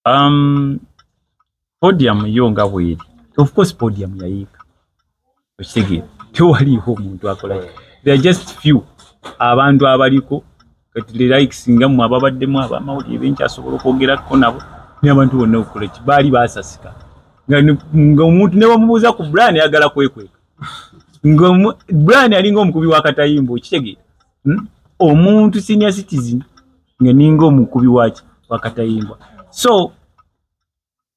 um, podium yo nga bweri of course podium yayiika okitegeera tewaliiwo omuntu akola there just few abantu abaliko kati the likes nga mwe ababaddemu abamawulire benkyasobola okwogerako nabo naye abantu bonna okukola ki baali basasika nga omuntu ne bamubuuza ku brani ayagala kwekweka nga brani alinga omukubi wakatayimba okitegeera hmm? omuntu senior citizen nga ninga omukubi waki wakatayimbwa so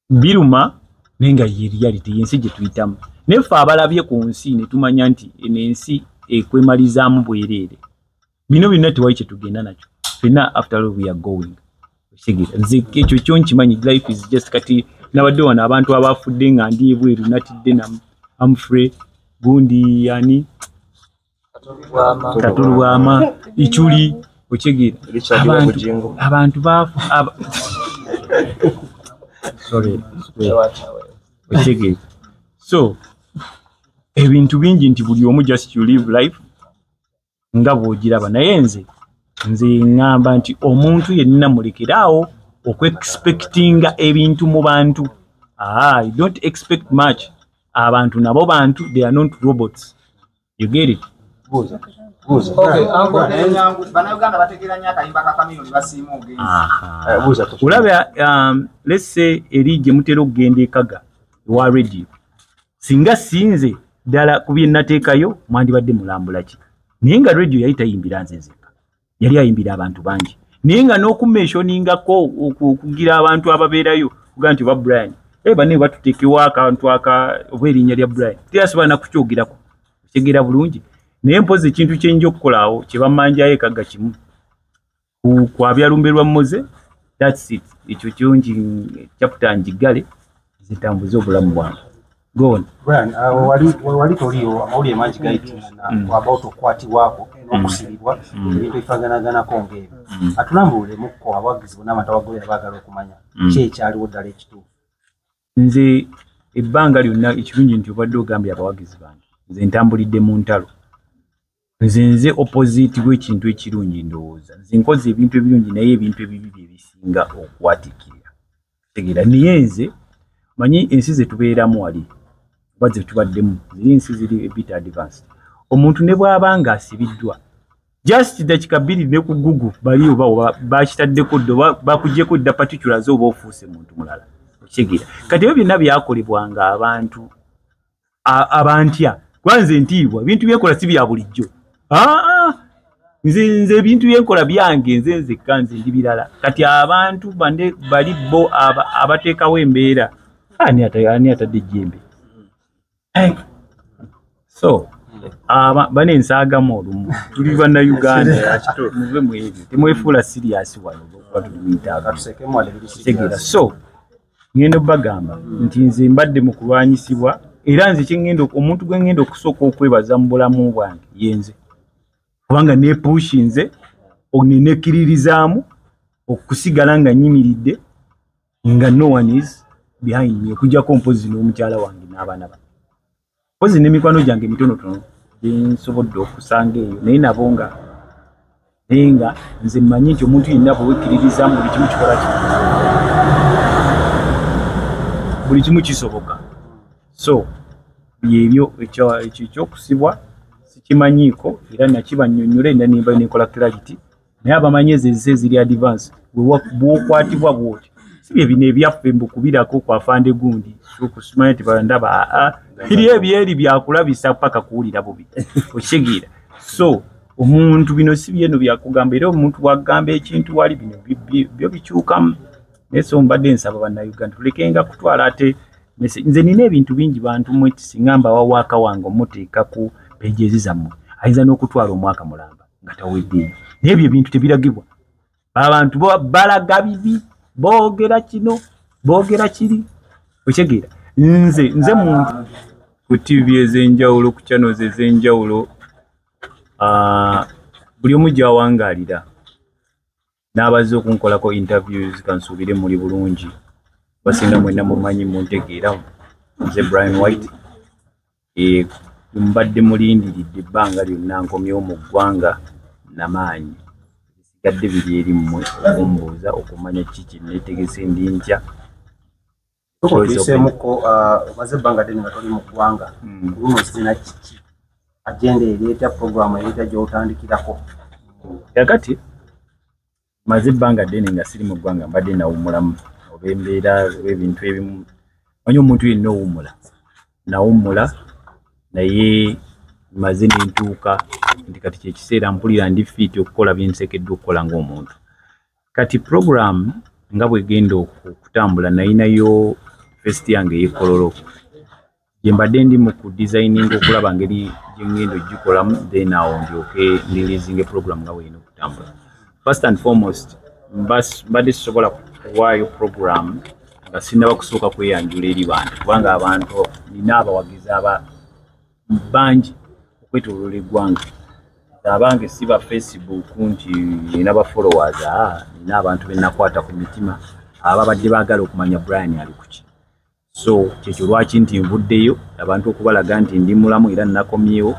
biruma naye nga ye reality yensi gye tuyitamu naye ffe abalabye ku nsi ne tumanya nti eno ensi ekwemalizaamu bwereere bino byonna tewali kye tugenda nakyo fena after all we are going ekyo kyo nkimanyi life is just kati nabadde wano abantu abafudde nga ndi ebweru natidde na amfre gundi yani katulu bwama ichuli okitegeera abantu baafu okitegeera so ebintu bingi nti buli omu just you live life nga bwogiraba naye nze nze ŋŋamba nti omuntu yenna mulekere awo okuexpectinga ebintu mu bantu ah, i don't expect much abantu nabo bantu they are not robots you get it buuza olaba um, lese eri gye mutera okugenda ekaga ewa radio singa sinze ddala ku bye nateekayo mwandibadde mulambula ki naye nga radio yali tayimbira nze nzeka yali ayimbira abantu bangi naye nga n'okumeshoningako okugira abantu ababeerayo kuga nti oba brian e bane batutekewo akantu aka oba erinnya lya brian teyasobola nakukyogerako okyegera bulungi naye mpozi ekintu kyenja okukolaawo kyebamanjayo ekagga kimu kwabyalumbe lwa moze that's it ekyo kyongi chapter njiggale zitambuze obulamu bwange Go on. Brian, uh, wali wali toliyo amawulire mangi gayitingana mm. about okukwatibwako mm. n'okusibibwa mm. ebintu ebifaganagana ko ng'ebyo mm. atulambulule mukko abawagizi bona abantu abagobera baagala okumanya mm. ki ekyaliwo ddala ekituufu nze ebbanga lyonna ekirungi nti obadde ogambye abawagizi bange nze ntambulidde mu ntalo nze nze opposite w'ekintu ekirungi ndowooza nze nkoze ebintu ebirungi naye ebintu ebibi bye bisinga okwatikirira tegera naye nze manyi ensi ze tubeeramu wali oba ze tubaddemu ziri ensi ziri ebit advance omuntu ne bw'aba nga asibiddwa just dakika bbiri ne ku gugu bali oba bakitaddeko dda oba bakugyeko dda patikula ze oba ofuuse muntu mulala okitegeera kati ebyo byonna byakolebwanga abantu abantya kuba nze ntiibwa ebintu byenkola si bya bulijjo nze nze ebintu byenkola byange nze nzekka nze ndi birala kati abantu bande bali bo abateekawo embeera ani atadde ejjembe so bane nsaagamu olumu tuli banna uganda muve mwebyo temwefuula siriyasi wano kuba tulimiitaaga so ŋŋenda okubagamba nti nze mbadde mu kulwanyisibwa era nze kyeŋŋenda omuntu gwe ŋŋenda okusooka okwebaza mu bulamu bwange ye nze kubanga neepuushi nze nenekkiririzaamu okusigala nga nyimiridde nga no one is behind me okujjako mpozi n'omukyala wange n'abaana bange mpozi n'emikwano gyange mitonotono gyensobodde okusanga eyo naye nabo nga naye nga nze mmanyi nti omuntu yenna bwewekkiririza mu buli kimu kikola ki buli kimu kisoboka so byebyo ekyokusibwa sikimanyiiko era nakiba nnyonnyole nda nembayo nenkola clarity naye abamanyi ezo ezisa eziri advance bwokwatibwa bwoti sibye bino ebyaffe mbukubirako kwafande gundi okusumanya nti bandaba aa ah, ah, biri ebyeri byakulabisa paka kuwulira bubi okigira so omuntu bino si byeno byakugamba era omuntu wagamba ekintu wali bino byo bikyukamu naye so mbadde nsaba bannayuganda tulekenga kutwala ate nze nina ebintu bingi bantu mwe kisinga mbawawaaka wange omuteeka ku pejezizammwe ayinza n'okutwala omwaka mulamba nga tawedde n'ebyo ebintu tebiragibwa abantu balaga bibi boogera kino boogera kiri okitegeera nze nze muntu ku tv ez'enjawulo ku channels ez'enjawulo buli omu gyawangaalira n'abazze okunkolako interviews kansuubire muli bulungi basinga mwena mumanyi muntegeera nze brian white eh, mbadde mulindiridde ebbanga lyonna nkomyewo mu ggwanga namaanyi ebisigadde biri eri mmwe okumbuuza okumanya kiki netegese ndi ntya tuyiseemuko ah, omaze ebbanga ddene nga toli mu ggwanga hmm. luno sina kiki agenda ereeta puroguramu ereeta gyotandikirako kakati maze ebbanga ddene nga siri mu ggwanga mbadde nawumulamu oba embeera oba ebintu ebimu manyi omuntu yenna owummula nawummula naye maze nentuuka nti kati kyekiseera mpulira ndi fiiti okukola byensekeddwa okukola ngaomuntu kati program nga bwegenda okutambula nayinayo fest yange yekololo gyembadde ndi mu ku designing okulaba ngeri gyengenda ogikolamu then awo ndyoke ndilizinga program nga bweyina okutambula first and foremost mbadde sisobola kuwaayo program nga sinaba kusooka kweyanjula eri bantu kubanga abantu nina abawagizi aba bangi okwetoloola eggwanga abange si ba facebook nti ina ba followers ah, nina abantu benakwata ku mitima ababadde baagala okumanya brian ali kuki so kyekyo lwaki nti nvuddeyo abantu okubalaga nti ndi mulamu era nakomyewo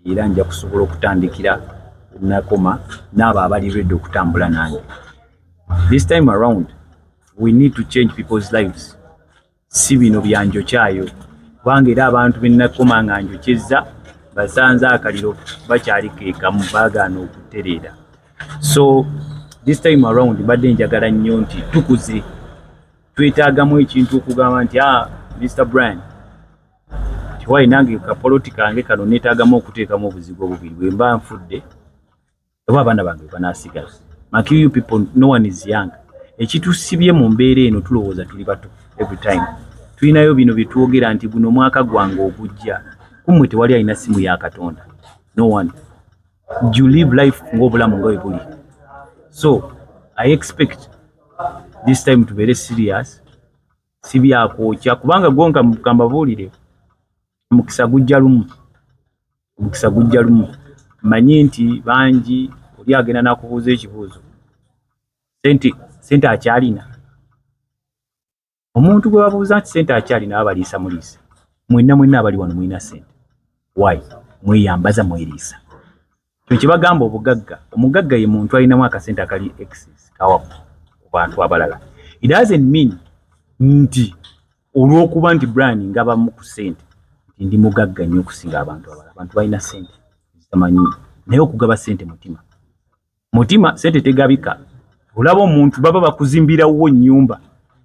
era nja kusobola okutandikira nakoma naabo abali redi okutambula nange this time around we need to change people's lives si bino byanjokyayo kubanga era abantu benakoma nga njokyezza basanze akaliro bakyali kekamu bagaana okutereera so this time around mbadde njagala nnyo nti tukuze twetaagamu ekintu okugamba nti a ah, mr brian tiwayi nange kapoloti kange kano netaagamu okuteekamu obuzigo bubiri bwemba nfudde oba abaana bange banasigala maki you people no one is young ekitusibye mu mbeera eno tulowooza tuli bato every time tulinayo bino byetwogera nti guno omwaka gwange ogujja kumwe tewali alina simu ya katonda no one you live life ngaobulamu nga webuli so i expect this time tubeere serious sibyakwokya kubanga gwonkagamba buulire mukisa gujja lumu omukisa gujja lumu manyi nti bangi oli agenda nakubuuza ekibuuzo sente sente akyalina omuntu gwe babuuza nti sente akyalina abaliisa muliisa mwenna mwenna abali wano mulina sente wayi mweyambaza mweriisa kyekibagamba obugagga omugagga ye muntu alinamu akasente akali exis kawapu ku bantu abalala it doesn't mean nti olw'okuba nti brian ngabamu ku sente nti ndi mugagga nnyo okusinga abantu abala abantu balina sente zitamanyi naye okugaba sente mutima mutima sente tegabika olaba omuntu baba bakuzimbirawo nyumba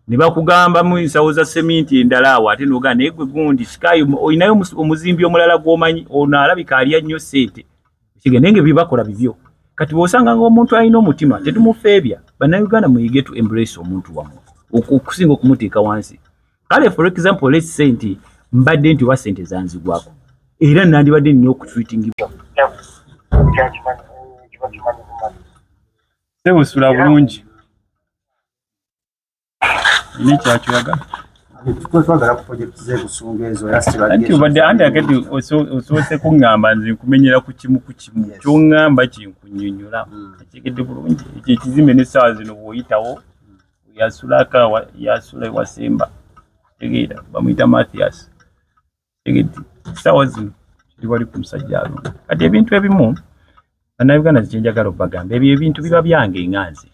ne bakugamba mu nsawo za seminti endala awo ate noga naye gwe gundi sikayo olinayo omuzimbi omulala gwomanyi ono alabika alya nnyo sente kigende nge bibakola bibyo kati bwosanga nga omuntu alina omutima tetumufeebya bannayuganda muyige tu embrace omuntu wamu okusinga okumuteeka wansi kale for example let's say nti mbadde nti oba sente zanzigwako era nandibadde nina okutreatingibwa sebusula bulungi ni kyakiraga anti obadde andi akati osoose kuŋŋamba nze nkumenyera ku kimu ku kimu kyoŋŋamba kinkunyonyola hmm. akyegedde bulungi ekyo ekizimbe n'essaawa zino bw'oyitawo yasulaka yasula ewasemba tegeera bamuyita mathias tegedi essaawa zino kiri wali ku musajja alungi kati ebintu ebimu bannayuganda zikyenjagala obagamba ebyo ebintu biba byange nga nze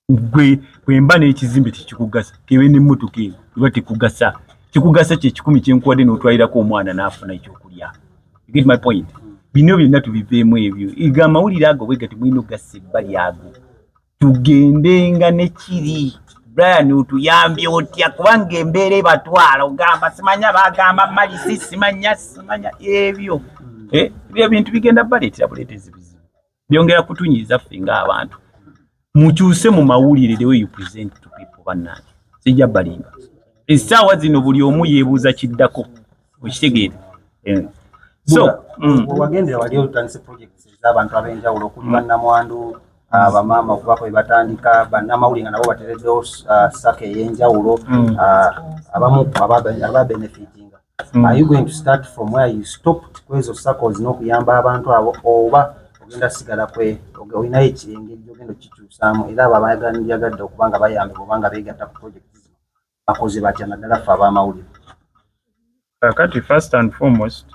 gwe kwemba n'ekizimbe tekikugasa kebe n'emmotoka eyo eba tekugasa kikugasa kye kikumi kyenkuwadde n'otwalirako omwana n'afuna ekyokulya get my point bino byonna tubiveemu ebyo ega amawulire ago bwega temulina okugasa ebbali ago tugendenga ne kiri brian otuyambye otya kubanga embeera ebatwala ogamba simanya bagamba malisi simanya simanya ebyo eh, ebyo ebintu bigenda baleetera buleetezi bizibu byongera kutunyiza ffe ng'abantu mukyuse mu mawulire the way you present to people bannange sijja balimba essaawa zino buli omu yeebuuza kiddako okitegeera eh. so mm. wagendera wali otandise projects ez'abantu ab'enjawulo okuli mm. bannamwandu ah, bamaama okubako bebatandika bannamawulire nga nabo batereddewo ah, saka ey'enjawulo mm. ah, abamu ababenefitinga mm. are you going to start from where you stopped kwezo circles n'okuyamba abantu abo oba ogenda sigala kwe olinayo ekirenge gyogenda okikyusaamu era abo abayagala nibyagadde okuba nga bayambibwa oba nga beegatta ku project zino bakoze batya naddala ffe ab'amawulire kakati first and foremost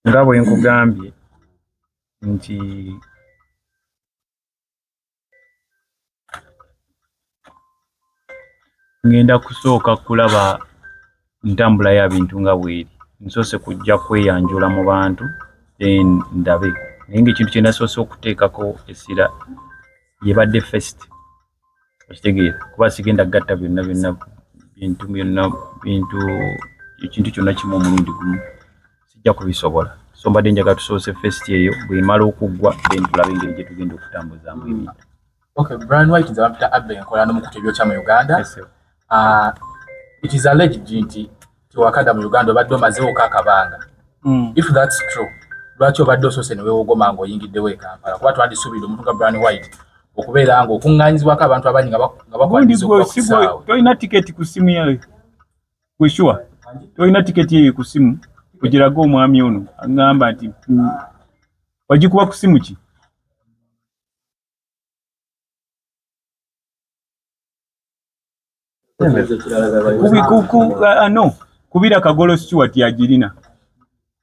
nga bwe nkugambye nti ngenda kusooka kulaba ntambula ya bintu nga bweri nsoose kujja kweyanjula mu bantu then ndabe naye ngaekintu kyenasoose okuteekako essira yebadde fest okitegeera kuba sigenda gatta byonna byonna bintu byonna bintu ekintu kyonna kimu omulundi gumu sijja kubisobola so mbadde njaga tusoose fest eyo bwemala okuggwa then tulabe engeri gye tugenda okutambuzaamu ebintu okay brian white nze bampita abbe enkola n'omukutu ebyokya mu uganda ah, it is alleged nti tiwakada mu uganda obadde omazeewoka akabanga hmm. if thats true lwaki obadde osoose newewogoma nga oyingiddewo ekampala kuba twandisuubira omuntu nga brian white okubeera nga okuŋŋanyizibwako abantu abangi nga bakwaniza okuba ku kisaawe tolina tiketi ku ssimu yayo Kweshuwa, tolina tiketi eyo ku simu ogiraga omwami ono agamba nti mm, wagikuba ku simu ki ah, ah, no kubira kagolo sikiwati agirina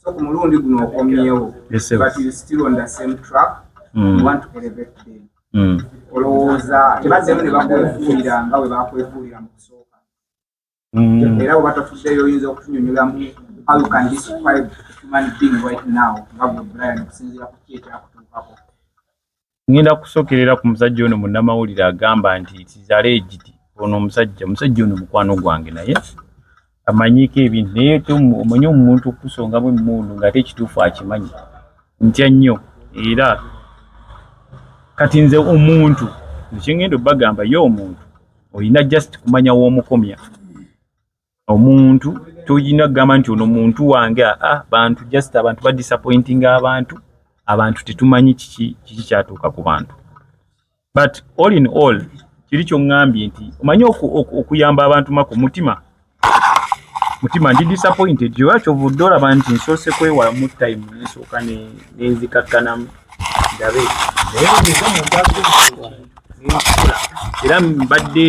so ku mulundi guno okomyewo but you still on the same track mm. you want to elevate them mm. olowooza tebaddemu ne bakwefuulira nga bwe bakwefuulira mu kusooka mm. era bweba tofuddeyo oyinza okutunyonyoramu how you can describe human being right now nga gwe brian okusinziira ku ki ekyakutuukako ngenda kusokerera ku musajja ono munnamawulire agamba nti tizale egiti ono omusajja omusajja ono mukwano gwange naye amanyiiko ebintu naye omanyi omuntu okusongamu emundu nga ate ekituufu akimanyi ntya nnyo era kati nze omuntu ekyengenda obagamba ye omuntu olina just kumanya womukomya omuntu toyina kugamba nti ono muntu wange aa ah, bantu just abantu ba disappointing abantu abantu tetumanyi kiki kiki kyatuuka ku bantu but all in all kiri kyoŋŋambye nti omanyi okuyamba abantu mako mutima mutima ndi disappointed oba kyova odde olaba nti nsoose kwewalamu time nsooka nenzikakkanamu ndabe naye bweza muntu asobola nenkola era mbadde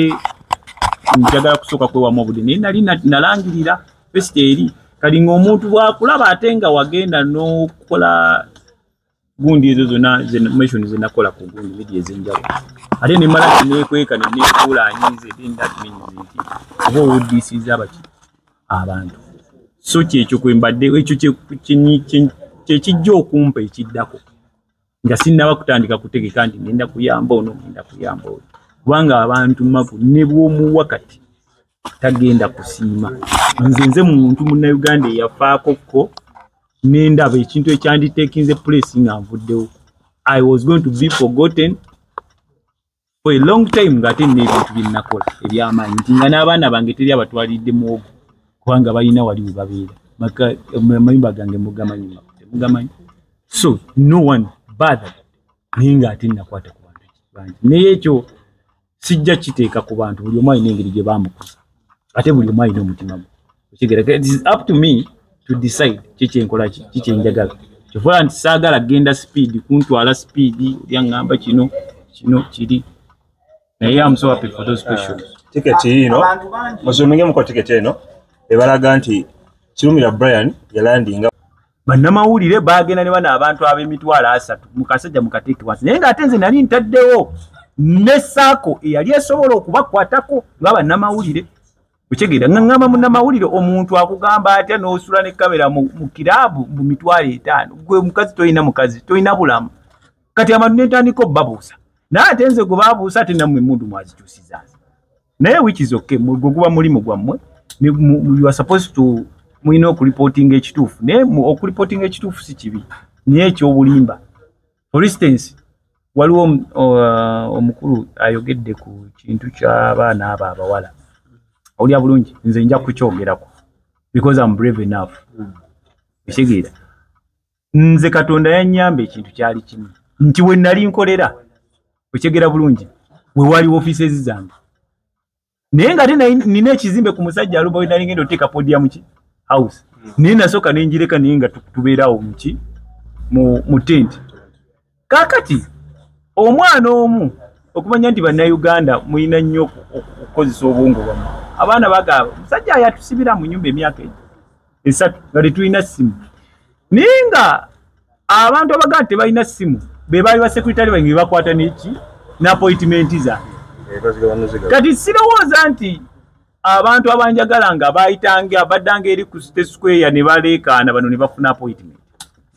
njagala kusooka kwewamu obudde naye nali nalangirira fesita eri kati ngaomuntu bwakulaba ate nga wagenda nokukola gundi ezo zona mation zenakola ku gundi midi ezenjawulo ate nemala nekweka nenefuula anyinze then that means nti oba owuddisiza abaki abantu so kyekyo kwembadde ekyo kyekijja okumpa ekiddako nga sinnaba kutandika kutegeka nti ngenda kuyamba ono ngenda kuyamba oyo kubanga abantu magu ne bwomuwa kati tagenda kusiima nze nze muntu munnayuganda eyafaako kko nendaba ekintu ekyanditekinze pulesi nga nvuddewo i was going to be forgotten for a long time nga ate nina ebintu byenakola ebyamaanyi nti nga n'abaana bange teri abatwalidde muwogo kubanga balina wali we babeera amayumba gange mugamanyi mugamanyi so no one bather naye nga ate nakwata ku bantu bangi naye ekyo sijja kiteeka ku bantu buli omu alina engeri gye bamukuza ate buli omu alina omutima gwe okigereka it is up to me to decide kiki enkola ki kiki enjagala kyovola nti saagala genda sipiidi kuntwala sipiidi olya ŋŋamba kino kino kiri naye amusowape for those questions ah, tiketi yiino muzumingemuko tiketi eno ebalaga nti kirumira brian yalandinga bannamawulire baagenda ne bano abantu ab'emitwalo asatu mu kasajja mu kateeke wansi naye ng'ate nze nali ntaddewo ne saako eyali esobola okubakwatako nga bannamawulire okitegeera ngamba munamawulire omuntu akugamba atya nosula ne kamera mu kiraabu mu mitwalo etaano gwe mukazi tolina mukazi tolina bulamu kati abantu nentandika obubabuusa naye ate nze gwe babuusa ate namwe emundu mwazikyusizanze naye wikizoke gwe guba mulimu gwammwe mulina okulipotinga ekituufu naye okulipotinga ekituufu si kibi naye ekyobulimba for instance waliwo uh, omukulu ayogedde ku kintu kyabaana abo abawala awulira bulungi nze nja kukyogerako because am brave enough ekitegeera nze katonda yanyamba ekintu kyali kimu nti wenali nkolera okyegera bulungi wewaliwo offices zange naye nga ate nina ekizimbe ku musajja alumba we nalingenda oteeka podia muki house hmm. naye nasooka nenjireka naye nga tubeerawo muki mu tenti kakati omwana omu okumanya nti bannayuganda mulina nnyo okukozesa obwongo bwamu abaana bagaba musajja yatusibira mu nyumba emyaka egyo esatu nga tetulina ssimu naye nga abantu abagaa nti tebalina ssimu be baali basekritale bange bebakwata neki napoitimenti zange eh, kati sirowooza nti abantu abanjagala nga bayitange abaddanga eri ku site square ne baleekaana bano ne bafuna apoitimenti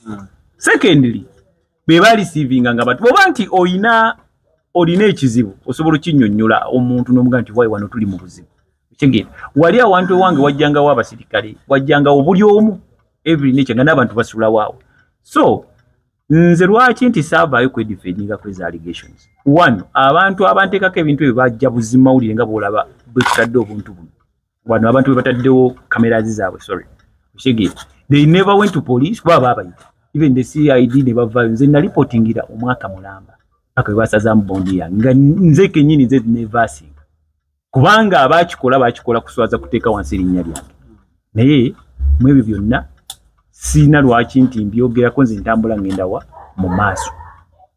hmm. secondly be balisiivinga nga batu oba nti olina olina ekizibu osobola okinyonyola omuntu nomuga nti wayi wano tuli mu buzibu kigenda wali awantu ewange wajjangawo abasirikale wajjangawo buli omu every nature nga n'abantu basulawaawo so nze lwaki nti saavaayo kwedifendinga kwezi allegations one abantu abanteekako ebintu ebyo bajja buzimawulire nga bwolaba bwetutadde obuntu buno wano abantu bwe bataddewo cameras zaabwe sorry oshege they never went to police kuba baabayita even the cid ne bavayo nze nalipotingira omwaka mulamba paka bwe basazamu bondi yange nga nze kenyini nze nevasinga kubanga abaakikola baakikola kuswaza kuteeka wansi erinnya lyange naye mu ebyo byonna siina lwaki nti mbyogerako nze ntambula ngenda wa mu maaso